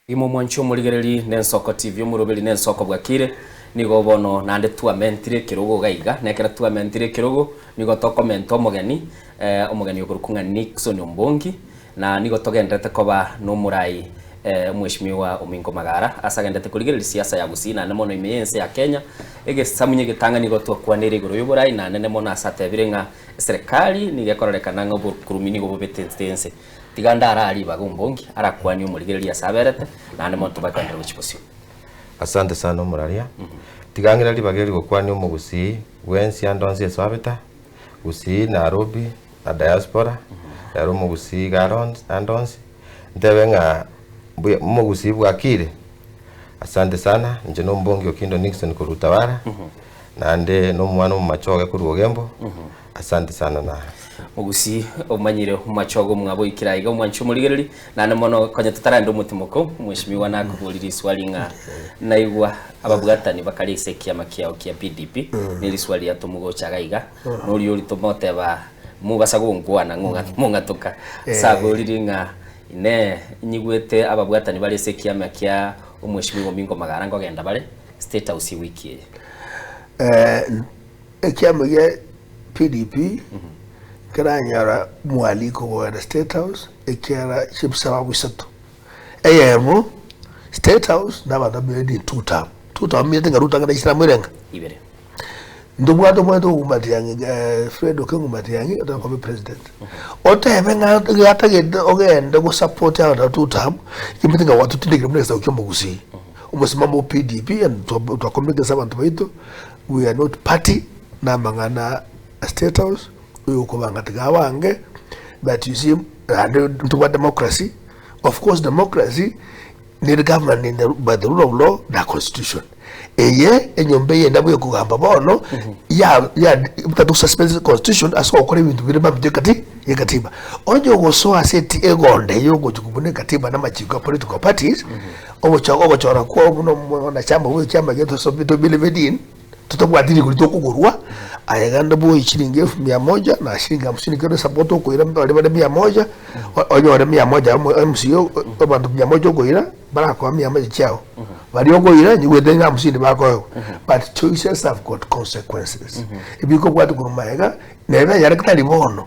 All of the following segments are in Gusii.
Imwe mwanchwa omorigereri nensoko TV omoroberi nensoko bwakire nigo bono naende twamentire ekerogo iga iga na ekero twamentire ekerogo nigo tokomenta omogeni eh omogeni oborokwa ng'a Nixon Ombongi na nigo togenderete koba nomorai eh omweshimiwa Ominko Magara ase agenderete korigereria siasa ya Gusii naende mono ime ya ense ya Kenya egesamunye egetang'ani igo twakwanire igoro yoborai nanene mono ase atebire ng'a eserekari nigo ekorarekana ng'a obokurumi nigo bobetete ense Tiga ndare aa ribaga ombongi arakwanie omorigereria ase aberete, naende monto bakwendere gochia bosio. Asante sana omoraria. Tiga ng'ire ribaga eri gokwania omogusii bwensi ande onsi ase babeta, Gusii, Narobi na Diaspora, ere omogusii iga are onsi ande onsi, ntebe ng'a mbuya omogusii bwakire, asante sana, inche na ombongi Okindo Nickson korwa Utawala, naende na omwana omomache oye korwa Ogembo. Asante sana naye. Mogusi, omanyire omomachogo omwabo ikire aiga omwanchi omorigereri, naende mono konya totararenda omotimoko, mweshimiwa nakoborie riswari ng'a naigwa ababwatani bakare ase ekiama kiao kia PDP, ne riswari ria tomogochaga iga, noria oria tomoteba mobasa gonkwana ng'a mong'atuka, ase abwo oriri ng'a inee inyigwete ababwatani bare ase ekiama kia omweshimiwa Omingo Magara nkogenda bare State House ewiki eye? Ekiama gia PDP nkeranyora mwaliko goenda State House ekiara chi'ebisababu isato. Eyemo, State House nabanto babere ni two term. Two term omanyete ng'a Ruto ang'e naisire amo ere ng'a? Ibere. Ntobwate omanyete ogo Matiang'i, eh, Fred Okengu Matiang'i otaka koba president. Otebe ng'a gatagete ogende go support abanto ba two term, chiamanyete ng'a gwatotindekire buna egesaku ki'omogusii. Omosimamo o PDP and twa- twakomekesa abanto baito. We are not party namang'ana a state house oyo okobanga tiga abange but you see naende ntobwate democracy of course democracy nere governed in the, by the rule of law na constitution eye enyomba eye nabo ekogamba bono ya ya butatu suspend the constitution ase gokora ebinto bire mambia ekati ekatiba onye ogosoa ase eti egonde yogochi kobuna ekatiba na machiko ya political parties Ogocha gogochora kwao buna omoyo na chiambogo echi chi'amagena tosomire tobeire bedin, totabwati rigori tokogorwa, aye genda boe echiringi elfu mia moja na chiringi hamsini kera esabato okoira mbare bare mia moja, o- onyore mia moja ya omo- ya omosuya o- o- abanto mia moja okoira barakoa mia moja chiao. Baria okoira nigo oete ng'a hamsini bakoegwa. But choices have got consequences. Ebikobwatwa korwa magega, nere na nyarekatari bono,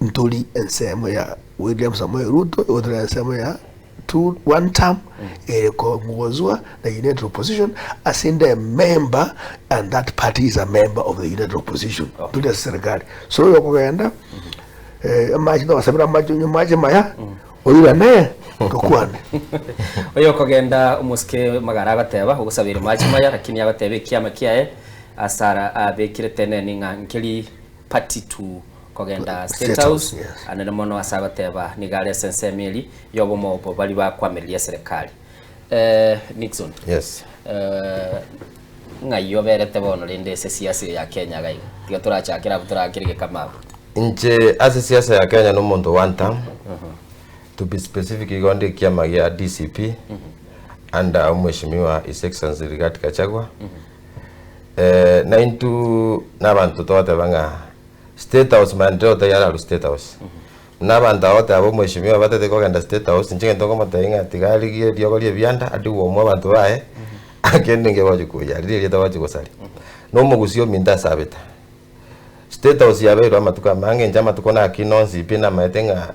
Ntori ensemo ya William Samoei Ruto igo tore ensemo ya two one term ere kongozwa na United Opposition ase nde member and that party is a member of the United Opposition okay. turi ase serikali so oyo okogenda eh, amache togosabira amache onye amache maya mm. oirane tokwane oyo okogenda omosike magara agateba ogosabire amache maya lakini agateba ekiama kiaye asara abekire teneni ng'a nkeri party to kogenda State House, anene mono ase agoteeba nigo are ase ensemo eria y'obomo obo baria bakwameririe eserekari. Eh, Nixon, Yes. eh, ng'ai oberete bono rende ase esiasa eyo ya Kenya iga iga? Tiga torachakere abwo torakirige kama abwo. Inche ase siasa ya Kenya nomonto o one term, to be specific igo ndi ekiama gia DCP under omweshimiwa His Excellency Rigathi Gachagua. Eh, naintwe nabanto togoteba ng'a State house maya nere otaiyo arue state house. Buna abanto aba goteba bo mweshimiwa batete kogenda state house inche egento nkomotebia ng'a tiga arigie eriogo ria ebianda ande gwoumwa abanto baye kende ninki egochi koyia riria erieta gochi gosaria. Na omogusi ominto ase abete. State house yabeirwe amatuko amange inche amatuko nakina onsi pi namaete ng'a.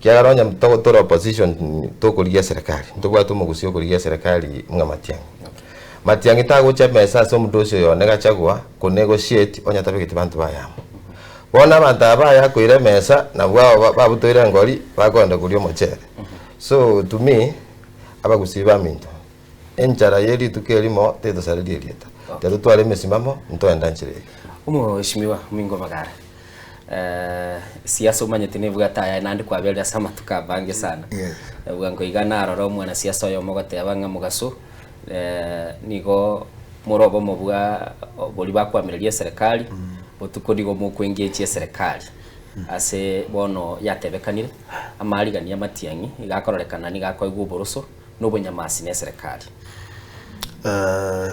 Ekiagera onye tore opposition tokorigia eserekari, ntobwate omogusi okorigia eserekari ng'a Matiang'i. Matiang'i tagocha emesa ase omodosi oyo one Gachagua konegotiate onye atabegeti banto baye amo. Bono abanto aba baye akoira emesa nabwo aba ba- babutoire engori bakoenda koria omochere. So to me, abagusii baminto, enchara ye rituko erimo tetosareria erieta. Tiga totware emesimamo ntoenda nchera eye. Omoesimimiwa Omingo Omogara. Eh, siasa omanyete nebwate ayaye naende kwaberire ase amatuko abange sana Yes. bwa nkoiga narora omwana siasa oyomo goteba ng'a mogaso eh, nigo more obomo bwa boria bakwamireria eserekari botuko nigo mokwengechi eserekari ase bono yatebekanire amarigani amatiang'i iga akororekana niga akoigwa oboroso na obonyamasi na eserekari Eh,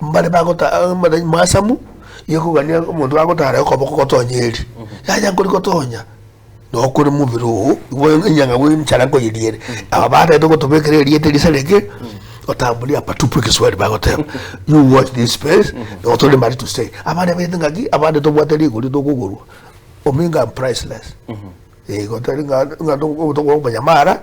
Mbare bagota amang'ana masamu y'okogania omonto agotara okoboko gotonya eri, yaya nkori gotonya nokore mobere oo, igo enyanga goenchara nkoyeriere. Aba bataete gotobekera erieta erisareke, otamburia hapa tupu egeswahili bagoteba you watch this space or tore mari to stay. Abare baete ngaki abande tobwate rigori tokogorwa omenga priceless. Igo tari ng'a ng'a tokobanya mara.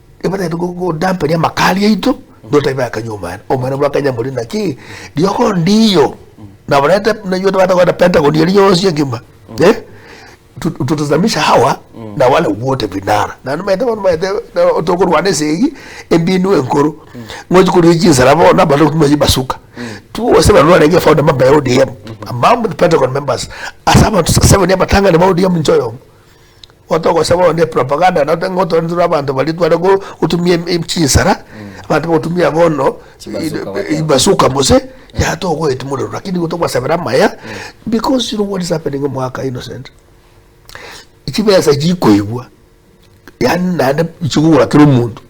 Nibateete godamperia amakari aito, notaibe bakanywa omwena. Omwena bwakanywa morie naki? Riogo ondiyo. Nabo rente nainwe tobwate kogenda Pentagon eria yonsi engima. Eh? Tu- Tutazamisha hawa na wale wote vinara. Na nimaete bono nimaete eh, tokorwana esegi embinu enkoro. Ngochi koria chinsara bono na abanto tuma chibasuka. Twose bano barenge founder member ya ODM. Among the Pentagon members. Ase abanto seven abatang'ani ba ODM inche oyomo. Gotogosaba onde propaganda nabo tari ngotware intwe tore abanto baria tware go gotumia em- em chinsara, abanto bagotumia bono Chibasuka goteema. chibasuka gose yaya togoeti morero lakini nigo togobasabera amaya because you know what is happening omogaka Innocent, chibesa chikoigwa yaani naende chikogora kera omonto.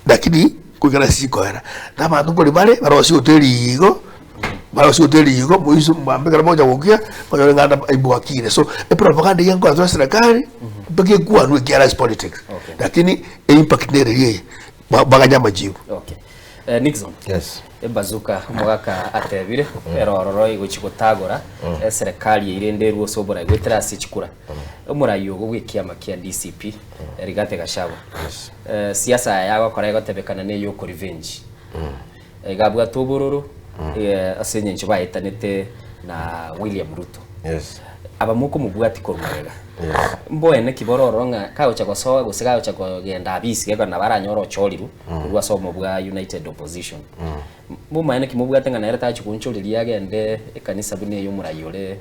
Lakini goika nase chinkoera, na abanto nkori bare barosie gotwa eriigo, barosie gotwa eriigo, moise mwambe ekero mogocha gokia, monyore ng'a ande aibwakire. So, epropaganda eyio enkoratorwa eserekari, mpaka ekwanwe ekiara ase politics. Okay. Lakini eimpact nere eria eye, ba- baganye amachibu. Okay. Eh, Nixon, Yes. ebazuka omogaka atebire ero ororo egochi gotagora eserekari eirende erwe ase oborai goetera ase chikura Omorai ogo bw'ekiama kia DCP, Rigathi Gachagua, siasa yaye agokora egotebekana na ey'oko revenge. Iga abwate obororo ase engencho baetanete na William Ruto. Aba mokomobwatia korwa magega. Mboene ki bororo ng'a kagocha gosoa gose kagocha kogenda abisi geko nabo aranyore ochorirwe korwa ase omo bwa United Opposition. Mbomaene ki mobwate ng'a nere tachia goonchoreria agende ekanisa buna ey'omorai ore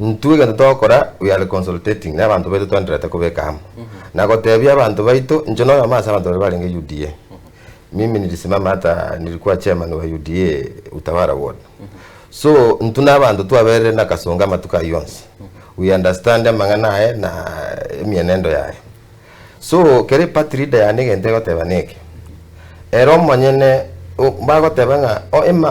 Intwe egento togokora we are consultating na abanto baito twenderete kobeka amo na gotebia abanto baito inche na oyomo ase abanto baria barenge UDA mimi nilisimama hata nilikuwa chairman wa UDA Utawara ward so intwe na abanto twaberire na Kasongo amatuko ayio onsi we understand amang'ana aye na emienendo yaye. So kere party leader yane egento egoteba neke, ere omonyene bagoteba ng'a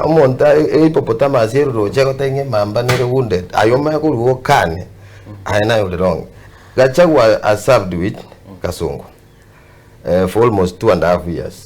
omonto are hippopotamus ere roche egoteba ng'a emamba nere wounded aye omanye korwa okane aye naye ore wrong. Gachagua has served with kasongo for almost two and a half years.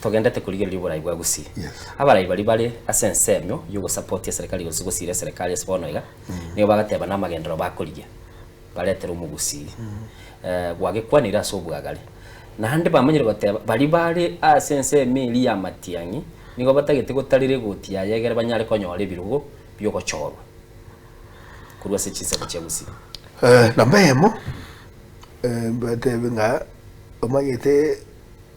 Togendete korigereria oborai bwa Gusii. Abarai baria bare ase ensemo y'ogosapotia eserekari gose gosiira eserekari ase bono iga, nigo bagateba namagenderero bakorigia baretere omogusii gwagekwanire ase obwagare. Naende bamanyire goteba baria bare ase ensemo eria y'amatiang'i nigo batagete gotarera egoti yaye egere banyare konyora ebirogo bi'ogochorwa korwa ase chinsaku chia Gusii. Namba eyemo, mbatebe ng'a omanyete.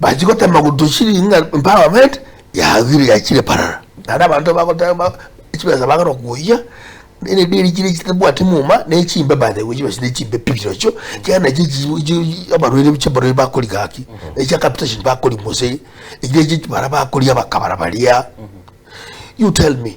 Bachia gotema gotuchiri ng'a empowerment yagire yachire parara naende abanto bagoteba ba- chibesa bagera okoyia ne- ne- ne- chire chitabwati muma na echimbe by the way chibesa chire chimbe pi chirochio ekiagera nachi echi- chi abarwaire ebi chiabarwaire bakori gaki echia capitation bakori gose echi echi bara bakori abakabara baria you tell me.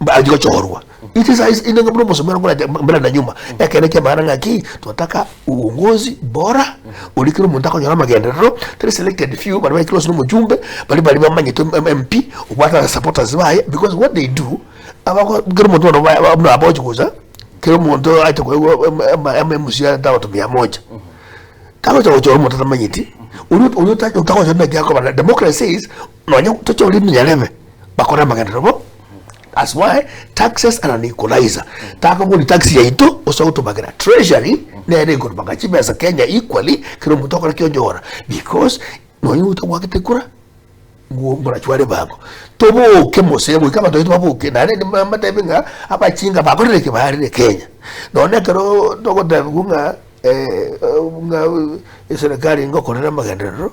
Mbare gochorwa inche saa ici inenge buna omosomero nkorete mbere na nyuma ekero kia maana ng'aki twataka uongozi bora ori kero omonto akonyora amagenderero tari selected few bari baikire ase omochumbe bari bari bamanyete MP obwate aba supporters baye because what they do abako kero omonto bono ba- ba- buna abochi gocha kero omonto aite koigwa ama- ama MC arenta abanto mia moja tagocha gochora omonto atamanyeti oria oria otagochora naki akoba na democracy says Nonya tochore emenyerebe bakore amagenderero bo that's why taxes and an equalizer takogori tax yaito ose gotobagera treasury nere ekorobanga chibesa kenya equally kero omonto okora ki onyora because nonya omonto obwagete kura bwo mborachware bango toboke mose goika abanto baito baboke nare inde mba mbatebe ng'a abachinga bakorire ki barire kenya nonya ekero togotebigwa ng'a eh ng'a eserekari ngokorera amagenderero.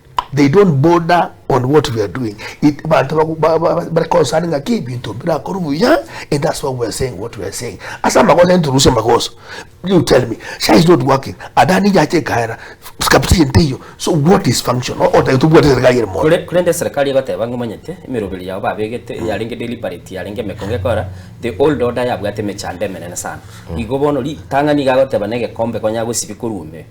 They don't bother on what we are doing. It, bantu bagu- ba- ba- ba- bari concerned ng'aki ebinto birakore buya and that's why we are saying what we are saying. Ase amagoso introduce amagoso. You tell me, Shah is not working. Adani yache ekaera. Skapti ente iyo. So what is function? O- Otagete tubwate serikali ere mono. Kore- korende eserekari egoteba ng'a omanyete emeroberi yao babegete yarenge deliberate yarenge emekongo ekora the old order yabwate emechando emenene sana igo bono ritang'ani iga agoteba na egekombe konya gosibia korwa ime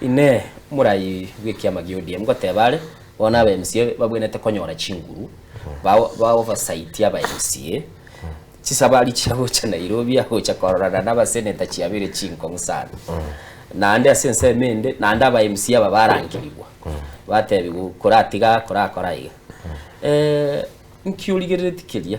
Inee! Morai bw'ekiama gia ODM goteba are, bono aba mca babwenerete konyora chinguru, baobosaitie aba mca, chisabari chia gocha Nairobi agocha kororana nabaseneta chiabeire chinkong'u sana. Naende ase ensemo ende, naende aba mca aba barangerigwa, batebigwa koratiga aa, korakora aiga. Inki origereretie keria?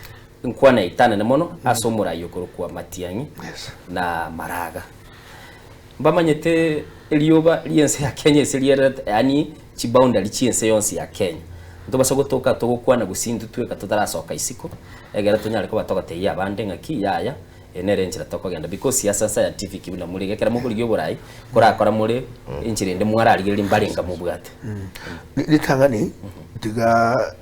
Inkwana eitanane mono ase omorai okorokwa matiang'i na maraga. Mbamanyete erioba ri'ense ya Kenya ase riererete, yaani chiboundary chi'ense yonsi ya Kenya. Ntobasa gotoka togokwana gosii intwe tweka totarasoka isiko, egere tonyare koba togotebia abande ng'aki yaya, eye nere enchera tokogenda because ase scientific buna morege ekero mokorigia oborai korakora more enchera ende mwararigereria mbarenga mobwate. Ritang'ani tiga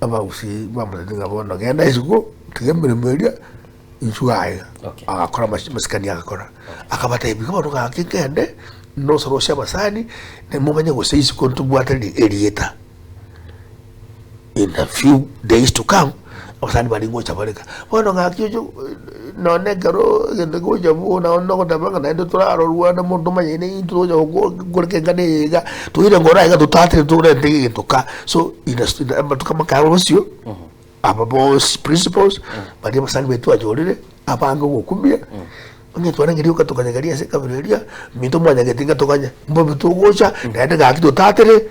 Abagusii bamotebia ng'a bono genda isiko, tiga emeremo eria, inchuo aye. Okay. Agakora amachi- amasikani agakora. Akabatebia ng'a bono gaki nkende nosorose abasani, ne momanye gose isiko ntobwate ri- erieta in a few days to come. Abasani baria ngocha bareka bono ng'aki oche nonye ekero egento kegocha boo nao nogoteba ng'a naende torarorwane mono tomanyane intwe togocha gokoreka engano eye iga toire ngoro aiga totatete torente egento ka so amatuko amakaye aba bosio aba boosi principals baria abasani baito twayorire abange ogokumia. Onye twarengeria ogatokanyegeri ase ekabira eria, minto mwanyagete ngatokanya. Mbobe togocha, naende gaki totatere,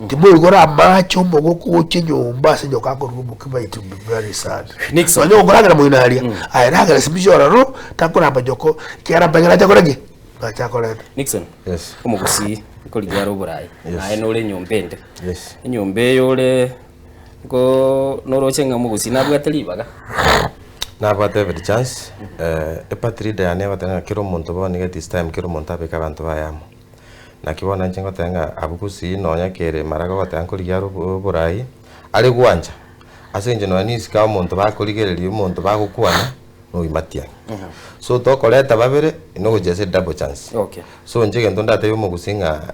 timoigo ore amaache omogo kogocha enyomba ase nyoka akorua omokima it will be very sad. Nixon. Nonya okoragera moino aria, aye ragera simichi ororo, takoramba nyoko, ekiagera amang'ana aye takora ki? Nache akorete. Nixon, Yes. omogusii, nkorigia are Oborayi, Yes. naye nore enyomba ende. Yes. Enyomba eye ore Go noroche ng'a mogosi nabwate ribaga. Nabwate every chance e party leader yane egoteba ng'a kera omonto bono iga it is time kera omonto abeke abanto baye amo. Naki bono inche ngoteba ng'a abwo gusii nonya kere maraga ogoteba nkorigia are obo oborai, are gwancha ase eng'encho nonya na esike ya omonto bakorigereria omonto bagokwana noyo matian. So tokoreta babere, nogochia ase double chance. Okay. So inche egento ndatebie omogusi ng'a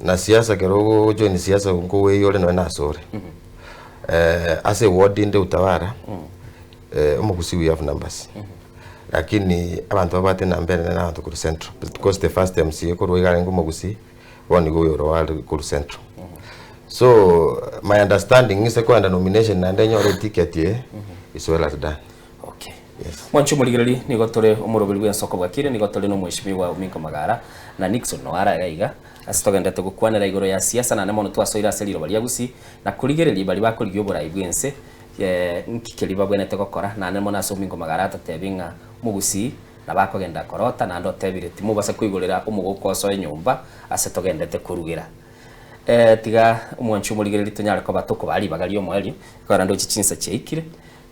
na siasa ekero ogojoin siasa nko oyore nonya na asore eh, ase eward inde utawara eh, omogusi we have numbers lakini abanto babwate enamba enene na abanto korwa central because the first mca korwa iga arenge omogusi bono nigo oyo oro are korwa central so my understanding nse koenda nomination naende nyore eticket eye is well as done Okay. Yes. Mwanchi omorigereri nigo tore omoroberi bw'ensoko bwakire nigo tore na omweshimiwa Ominko Magara na Nixon Noara iga iga ase togendete gokwanera igoro ya siasa nane mono twasoire ase riroba ria Gusii na korigereria bari bakorigia oborai bw'ense eh, nki keria babwenerete gokora nane mono ase Ominko Magara atatebie ng'a Mogusii na bakogenda korota naende otebire timobasa koigorera omogoko osoe nyomba ase togendete korugera eh, tiga omwanchi omorigereri tonyare koba tokobaha ribaga ri'omoerio korende oche chinsa chiaikire.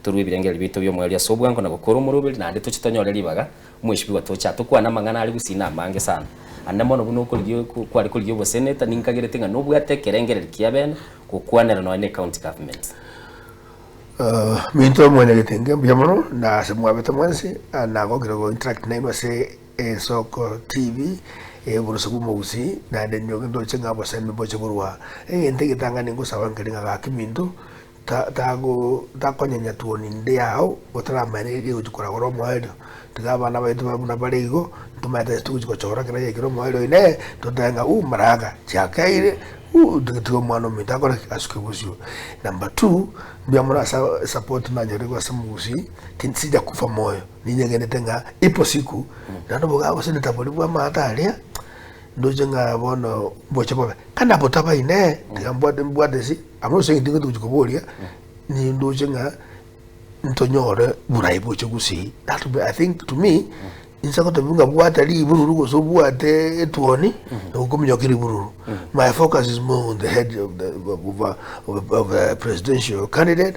torue ebirengererio biaito bi'omoerio ase obwango na gokora omoroberi, naende toche tonyore ribaga omwesibigwa toche aa tokwane amang'ana are gusina amange sana. Ande mono buna okorigia oko kware korigia oboseneta, ninkagerete ng'a nobwate ekerengererio ki'abene gokwanera nonya ne County Government. Minto mwene getenge, mbuya mono, na ase mwabete mwensi, nagokire go interact nainwe ase Ensoko TV, Oborosio bw'Omogusii, naende nyoke ndoche ng'a abasemi mboche korwa aa. Egento egetang'ani ngosaba nkere ng'a gaki Minto, Takonyenya tuoni ndie ao gotaramaete rigochia koragora omoerio. Tiga abana baito babe buna bare igo, ntomaete togochia gochora kera egekire omoerio inee, totebe ng'a uh maraga chiakeire uh tiga omwana ominto akore ki? Asuke bosio. Number two, mbuya mono ase esapoti nanyorire korwa ase mogusii, tinsicha kofa moyo, ninye ng'endete ng'a ipo siku naende obogaga gose netabori bwa amato aria ndoche ng'a bono mboche bobe. Kare nabotabaine, tiga mbwate mbwate ase. Abwo ase egento ekio togochia koboria, nindoche ng'a ntonyore bwrae boche gusii. That be, I think to me, inse gotobiwu ng'a bwate ribururu gose obwate etuoni, nigo okominyoka ribururu. My focus is more on the head of the, of a, of a, of a presidential candidate,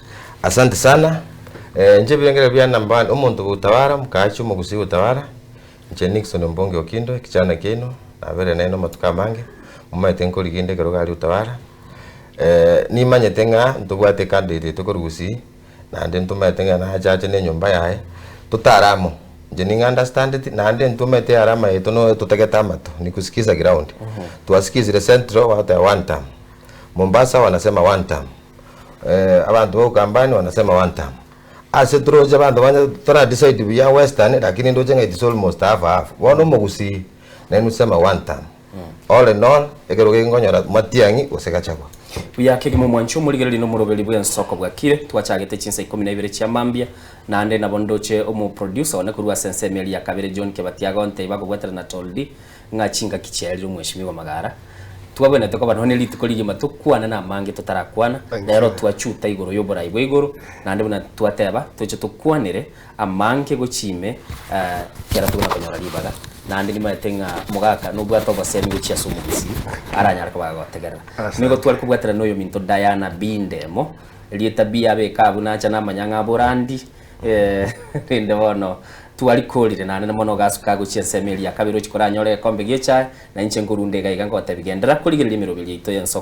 Asante sana, eh, inche ebirengererio biane number one, omonto gotawara, omokaachi omogusii gotawara, inche Nickson Mbonge Okindo, ekichanda kiaino, nabeire naino amatuko amange, momanyete nkorigia inde ekero gari gotawara, nimanyete ng'a ntobwate ecandidate yaito korwa Gusii, naende ntomanyete ng'a nache ache na enyomba yaye, totare amo, inche ning'a understandeti, naende intwe omanyete earama yaito noyo totagete amato, ni kusikiza ground, twasikizire Central, gwateba one term, Mombasa wanasema one term, abanto ba Ukambani wanasema one term. Ase toroche abanto banya tora decide buya western lakini ndoche ng'a it is almost half half. Bono omogusii naye nuseme one term. All in all ekerogo eke nkonyora Matiang'i gose Gachagua. Buya kegima omwancho omorigereria na omoroberi bw'ensoko bwakire, twachagete chinsa ikomi na ibere chia mambia, naende nabo ndoche omoproducer one korwa ase ensemo eria ya kabere John Kebati agonteiba akobwatera na Tolldie Ng'a chingaki chiaerire omwesimigwa magara, twagwenerete koba nonya rituko rigima tokwane namange totarakwana, rero twachuta igoro y'oborai bwa igoro, naende buna twateba, toche tokwanere amange gochia ime, ekero togenda konyora ribaga, naende nimaete ng'a mogaka nobwate obosemi gochia ase omogusi aranyare koba agotegerera. Nigo tware kobwaterana noyominto Diana Bindemo, erieta biabe eka abwo nacha namanya ng'a aborandi. Rende bono twarikoorire, naende na mono ogasuka gochia ensemo eria ya kabere ochia koranyore egekombe gi'echae, na inche nkorunda igaiga ngotebia, Genderera korigereria emeroberio yaito y'ensoko.